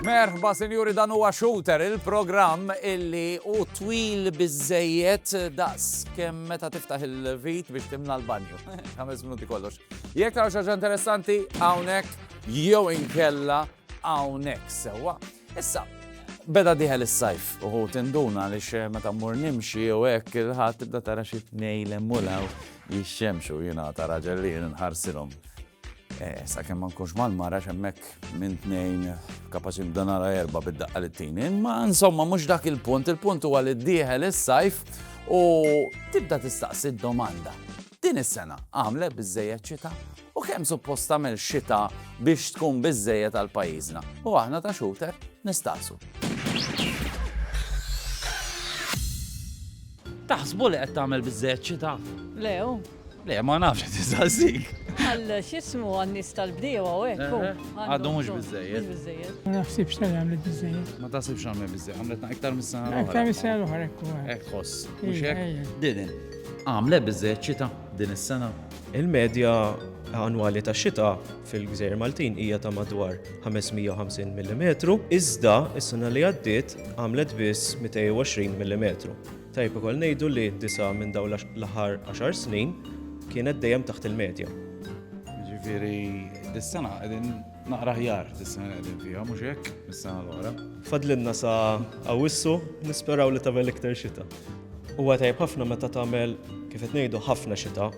Merħba, sinjuri, dan huwa Shooter, il-programm illi u twil bizzejiet daqs kemm meta tiftaħ il-vit biex timna l-banju. Ħames minuti kollox. Jekk taraw xaġa interessanti, hawnhekk jew inkella hawnhekk sewwa. Issa, beda dieħel is-sajf u ħut induna għaliex meta mmur nimxi jew hekk il-ħadd tibda tara xi tnejn hemm u l-hawn jixxemxu jiena ta' raġel li jien nħarsilhom. Eh, sakemm ma nkunx mal-mara x'hemmhekk minn tnejn kapaċi nibda nara erba' bid-daqqa li tini, imma insomma mhux dak il-punt, il-punt huwa li dieħel is-sajf u tibda tistaqsi d-domanda. Din is-sena għamlet biżejjed ċita? U kemm suppost tagħmel xita biex tkun biżżejjed għal pajjiżna? U aħna ta' xuter nistaqsu. Taħsbu li qed tagħmel biżżejjed xita? Le, u. Le, ma nafx qed insaqsik. Għal x'ismu għan-nies tal-bdiewa u hekk. u. Eh, Għadu mhux biżżejjed. Mhux biżżejjed. Ma naħsibx tal għamlet biżżejjed. Ma taħsibx għamel biżżejjed, għamlet iktar mis-sena l-oħra. Iktar mis-sena l-oħra hekk. Hekk ħoss. Mhux hekk? Din għamlet biżżejjed xita din is-sena? Il-medja annwali tax-xita fil-Gżejjer Maltin hija ta' madwar 550 millimetru, iżda s-sena li għaddiet għamlet biss 220 millimetru. Tajjeb ukoll ngħidu li disa' minn dawn l-aħħar għaxar snin kienet dejjem taħt il-medja. Jiġifieri dis-sena qegħdin Naqra aħjar dis-sena li qegħdin fiha, mhux hekk, mis-sena l-oħra. Fadlinna sa Awwissu, nisperaw li tagħmel iktar xita. Huwa tajb ħafna meta tagħmel kif qed ngħidu ħafna xita,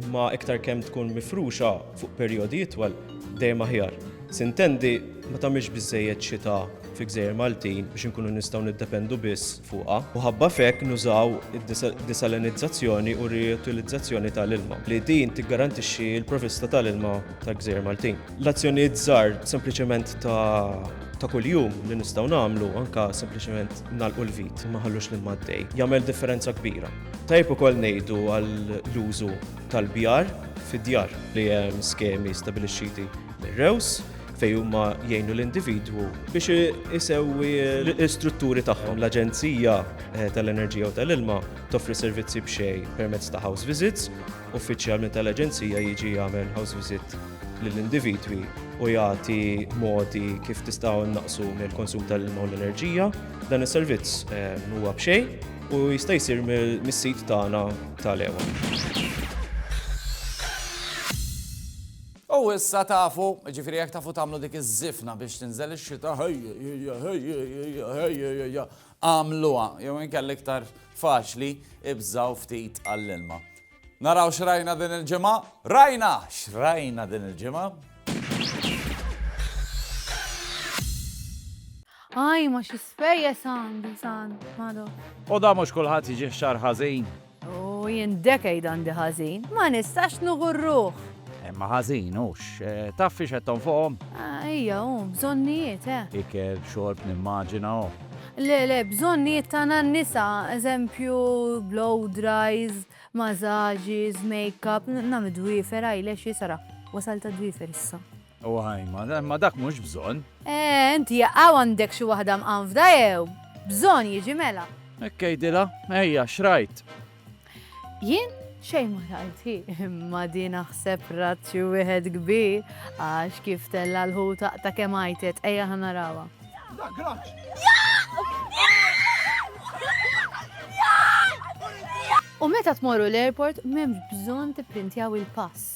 imma iktar kemm tkun mifruxa fuq perjodi itwal dejjem aħjar. Sintendi ma tagħmilx biżejjed xita fi gżejjer Maltin biex inkunu nistgħu niddependu biss fuqha u ħabba f'hekk nużaw id-desalinizzazzjoni u r-riutilizzazzjoni ta' l-ilma, li din tiggarantixxi l-provvista ta' l-ilma ta' gżejjer Maltin. L-azzjonijiet żgħar sempliċement ta' kuljum li nistgħu nagħmlu, anke sempliċement nagħlqu l-vit u ma nħallux l-ilma għaddej, jagħmel differenza kbira. Tajjeb ukoll ngħidu għall-użu tal-bjar fid-djar, li hemm skemi stabbilixxiti mir-REWS fejn huma jgħinu l-individwu biex isewwi l-istrutturi tagħhom. L-Aġenzija eh, tal-Enerġija u tal-Ilma toffri servizzi b'xej permezz ta' house visits, uffiċjal minn tal-Aġenzija jiġi jagħmel house visit lill-individwi u jagħti modi kif tistgħu naqsu mill-konsum tal-ilma u l-enerġija. Dan is-servizz eh, huwa b'xej u jista' jsir mis-sit tagħna tal-ewa. U issa tafu, ġifieri jekk tafu tagħmlu dik iż-żifna biex tinżel ix-xita, ħejjejja, ħejjejja, ħejjejja, agħmluha, jew inkella iktar faċli ibżgħu ftit għall-ilma. Naraw x'rajna din il-ġimgħa? Rajna! X'rajna din il-ġimgħa? Aj ma xi spejjeż għandi sant Mado. Oda mhux kulħadd jiġih xahar ħażin. U jien decade għandi ħażin. Ma nistax nuhu r-ruħ. Imma ħażin hux. Taf fiex qed tonfoqhom? Ejja hu, bżonnijiet, he. Ikel, xorb, nimmaġina hu. Le, le, bżonnijiet tagħna n-nisa, eżempju, blow dries, masages, make up, nagħmel dwiefer, eyelash, sara, wasalt għad-dwiefer issa. O Ajma, imma dak mhux bżonn. Eeh, inti jaqaw għandek xi waħda mqanfda jew? Bżonn jiġi mela. Hekk għidilha, ejja, x'rajt? Jien xejn ma rajt hi, imma din aħseb rat xi wieħed kbir għax kif tella' l-ħut aqta' kemm għajtet, ejja ħa narawha. U meta tmorru l-airport m'hemmx bżonn tipprintjaw il-pass.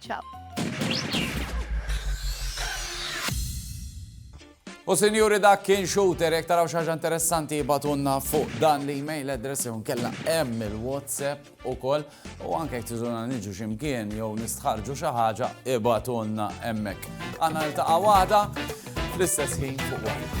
Ciao. U sinjuri dak kien shooter, jek taraw xaġa interessanti jibatunna fuq dan li email address jew kella hemm il-WhatsApp ukoll u anke jek tiżuna niġu ximkien jew nistħarġu xi ħaġa ibatunna hemmhekk. Għandna niltaqa' waħda fl-istess ħin fuq waħda.